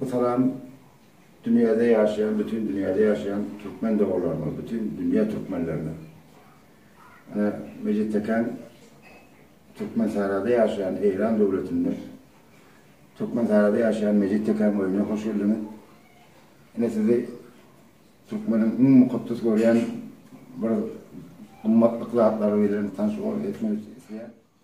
Bu salam dünýäde ýaşaýan, bütin dünýäde ýaşaýan türkmen doganlaryma, bütin dünýä türkmenlerine. Ine, Mejit Tekän Türkmensährada ýaşaýan Eýran döwletinde, Türkmensährada ýaşaýan Mejit Tekän öýüne hoş geldiňiz. Ine, sizi türkmeniň iň mukaddes görýän bir gymmatlyk zatlary bilen tanşyk etmek isleýän.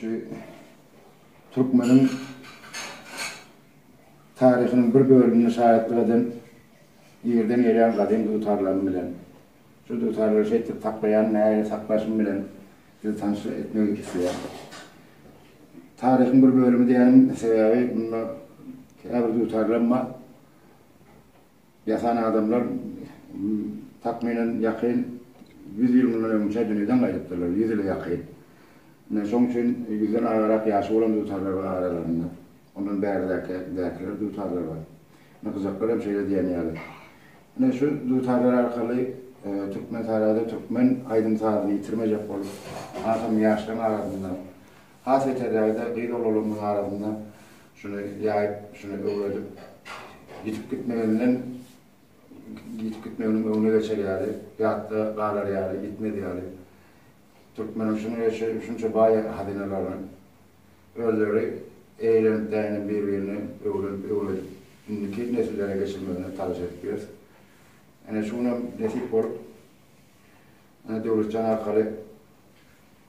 Şu türkmeniň taryhynyň bir bölümini şaýatlyk eden ýerden gelýän gadym dutarlarym bilen, şu dutarlary şeýtdip saklaýan näge saklaşym bilen sizi tanyş etmek isleýän. Taryhyň bir bölümi diýenim sebäbi munda käbir dutarlarym bar. Ýasan adamlar, takmynan, ýakyn ýüz ýyl mundan öňçä dünýeden gaýdypdyrlar, ýüz ýyla ýakyn. Ine, şonuň üçin ýüzden agarak ýaşy bolan dutarlar bar aralarynda. Ondan bäri-däki, däkiler dutarlar bar. Ine, gyjaklar hem şeýle diýen ýaly. Ine, şu dutarlar arkaly Türkmentarada türkmen aýdym-sazyny ýitirmejek bolup, hasam ýaşlaryň arasynda Has beterrägi-de gyz oglanlarynyň arasynda şuny ýaýyp, şuny öwredip, ýitip gitmeginden, ýitip gitmeginiň öňüne geçer ýaly, ýatda galar ýaly, ýitmez ýaly, türkmeniň şuny şunça baý hazynalaryny özleri eýlenip-däýlenip bir-birine öwrenip, öwredip, indiki nesillere geçirmegine talaş edip ýörüs. Ine şu günem nesip bolup, ine Döwletjan arkaly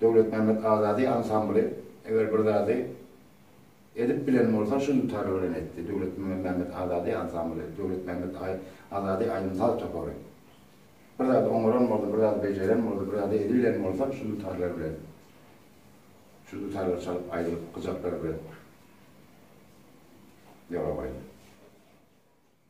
Döwletmämmet Azady ansambly eger bir zady edip bilen bolsa şu dutary bilen etdi, Döwletmämmet Azady ansambly, Döwletmämmet Azady aýdym-saz topary. Bir zady oňaran bolsa, bir zady bejeren bolsa, bir zady edibilen bolsa şu dutarlar bilen. Şu dutarlar çalyp aýdylyp gyjaklar bilen. Ýola goýdy.